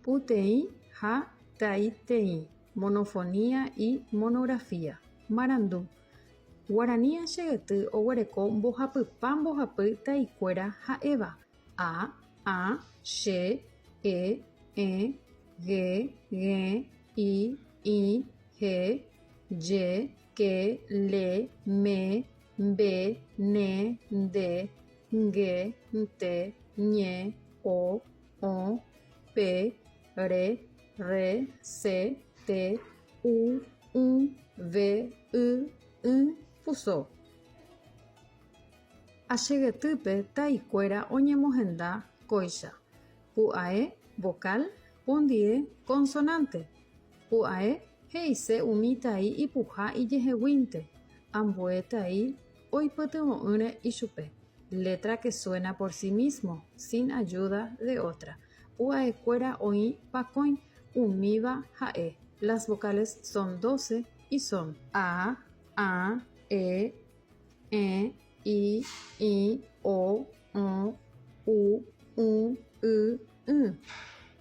Puteĩ ha taiteĩ, monofonía y monografía, marandu, Guarani Che yty oguereko mbohapypa mbohapy taikuéra ha'éva, a, ã, che, e, ẽ, ge, g̃e, i, ĩ, he, je, ke, le, me, mbe, ne, nde, nge, nte, ñe, o, o, pe, re, rre, se, te, u, ũ, ve, y, ỹ, puso. Achegetýpe taikuéra oñemohenda kóicha, pu'ae, vokál, pondie, konsonánte. Pu'ae he'ise umi tai ipuha ijeheguínte, ambue tai, Oipytyvõ'ỹre ichupe, letra que suena por sí mismo, sin ayuda de otra. Pu'aekuéra oĩ pakõi, umíva ha'e, las vocales son doce y son. A, ä, e, ẽ, i, ĩ, o, õ, u, ũ, y, ỹ.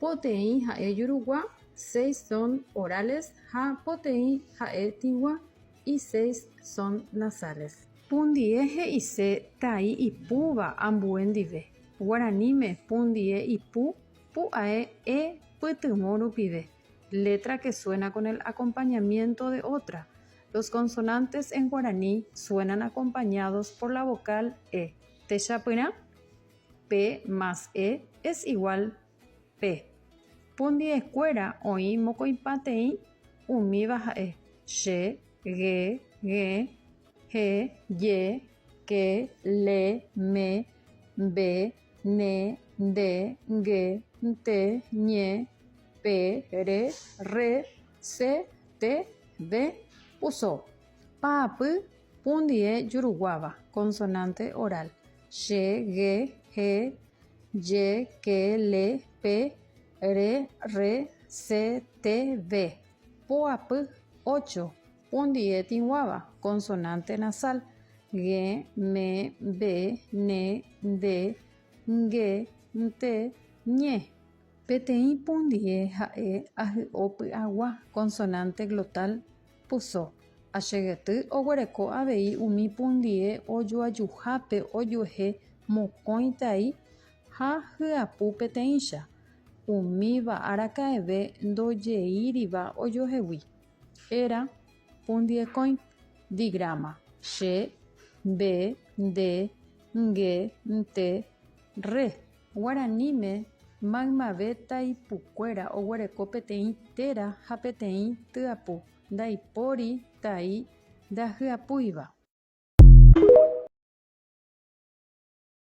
Poteĩ ha'e jurugua, seis son orales ha poteĩ ha'e tĩgua, Y seis son nasales. Pundie he'ise tai ipúva ambue ndive. Guaraníme pundie ipu pu'ae e pytyvõ rupive, letra que suena con el acompañamiento de otra, los consonantes en guaraní suenan acompañados por la vocal e. Techapyrã, P más E es igual Pe. Pundi'ekuéra oĩ mokõipateĩ umíva ha'e, che, ge, gẽ, he, je, ke, le, me, mbe, ne, nde, nge, nte, ñe, pe, re, rre, se, te, ve, uso, pa'apy, Un die juruguáva, consonante oral, che, ge, he, je, ke, le, pe, re, rre, se, te, ve. Po apy, ocho. Un die tĩguáva, consonante nasal, ge, me, be, ne, nde, nge, nte, ñe. Peteĩ pundie ha'e ahy'o py'agua, consonante glotal, Puso, Achegyty oguereko avei umi pundie ojoajuhápe ojuehe mokõi tai ha hyapu peteĩcha, umíva araka'eve ndojeíriva ojohegui. Era, pundiekõi, digráma, che, mbe, nde, nge, nte, rre. Guaraníme, maymave taipukuéra oguereko peteĩ téra ha peteĩ tyapu ndaipóri tai ndahyapúiva.